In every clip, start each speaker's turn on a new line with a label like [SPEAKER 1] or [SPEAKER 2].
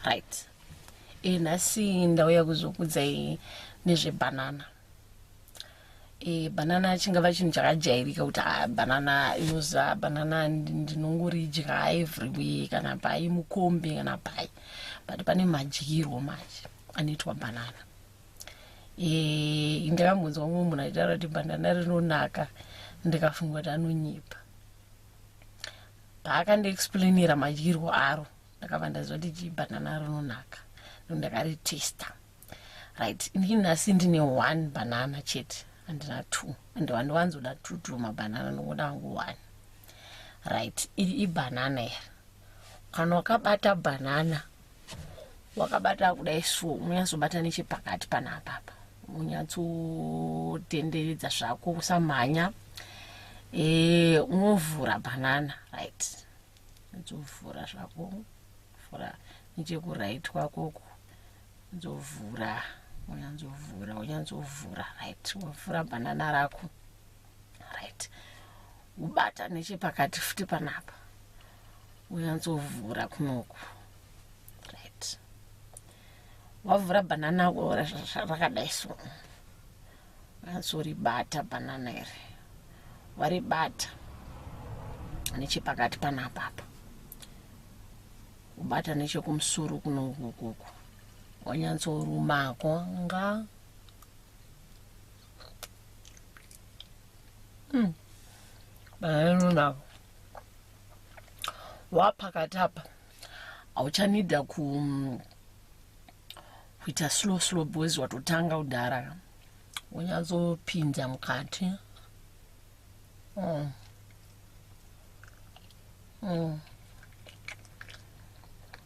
[SPEAKER 1] right e eh, nhasi ndauya kuzokudzai nezvebanana e eh, banana chingava chinhu chakajairika kuti ah, banana inoza banana ndinongoridya every way kana pai mukombe kana pai but pane madyirwo manje anoitwa banana e ndakambonzwa mumwe munhu aitaura kuti banana rinonaka ndikafunga kuti anonyipa paakandiexplainira madyirwo aro ndakabva ndaziva kuti jibhanana rinonaka no ndakaritesta right ini nhasi ndine one banana chete handina two and wandiwanzoda two two mabhanana ndokuda wangu one right iri ibhanana iri kana wakabata bhanana wakabata kudai so unonyatsobata nechepakati panapapa unyatsotenderedza zvako usamhanya e, unovhura banana right nzovhura zvako vhura nechekuright kwakoku nzovhura unyanzovhura unyanzovhura right wovhura banana rako right ubata nechepakati futi panapa unyantsovhura kunoku right wavhura banana rakadai so unyansoribata banana iri waribata nechepakati panapapa ubata nechekumusoro kunokukuku wanyantsorumako nga Hmm. Baenu navo wapakati apa hauchanida ku mm, kuita slow slow boys watotanga kudhara wonyatsopinza mukati mm. Mm.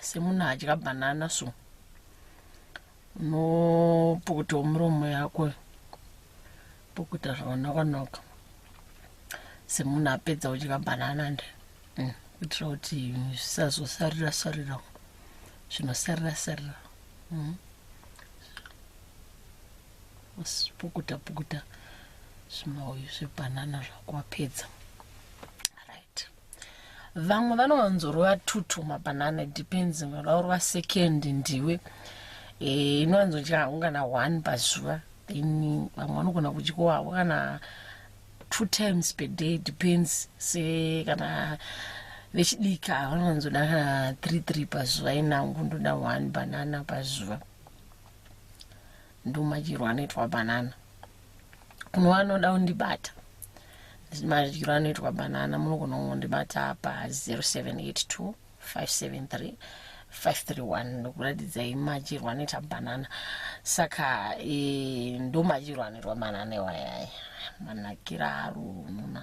[SPEAKER 1] semunhu adya banana so unopukutawo muromo yako pukuta zvakanoka-noka semunhu apedza kudya banana nde mm, kuitira kuti zvisazosarira-sarira zvinosarira-sarira mm. pukuta-pukuta zvimauyu zvebanana zvako wapedza vamwe vanowanzorova tutu mabanana depends vanoda kurova second ndiwe eh, inowanzodya hangu kana one pazuva then vamwe vanogona kudyiwa havo kana two times per day depends se kana vechidiki ava vanowanzoda kana three three pazuva inangu ndoda one banana pazuva ndomadyirwo anoitwa banana kuno anoda kundibata madyiro anoitwa banana munogona kungondibata pa 0782 573 531 ndokuratidzai madyirwo anoita banana saka e, ndo madyirwo anoitwa banana iwayaya manakira arununa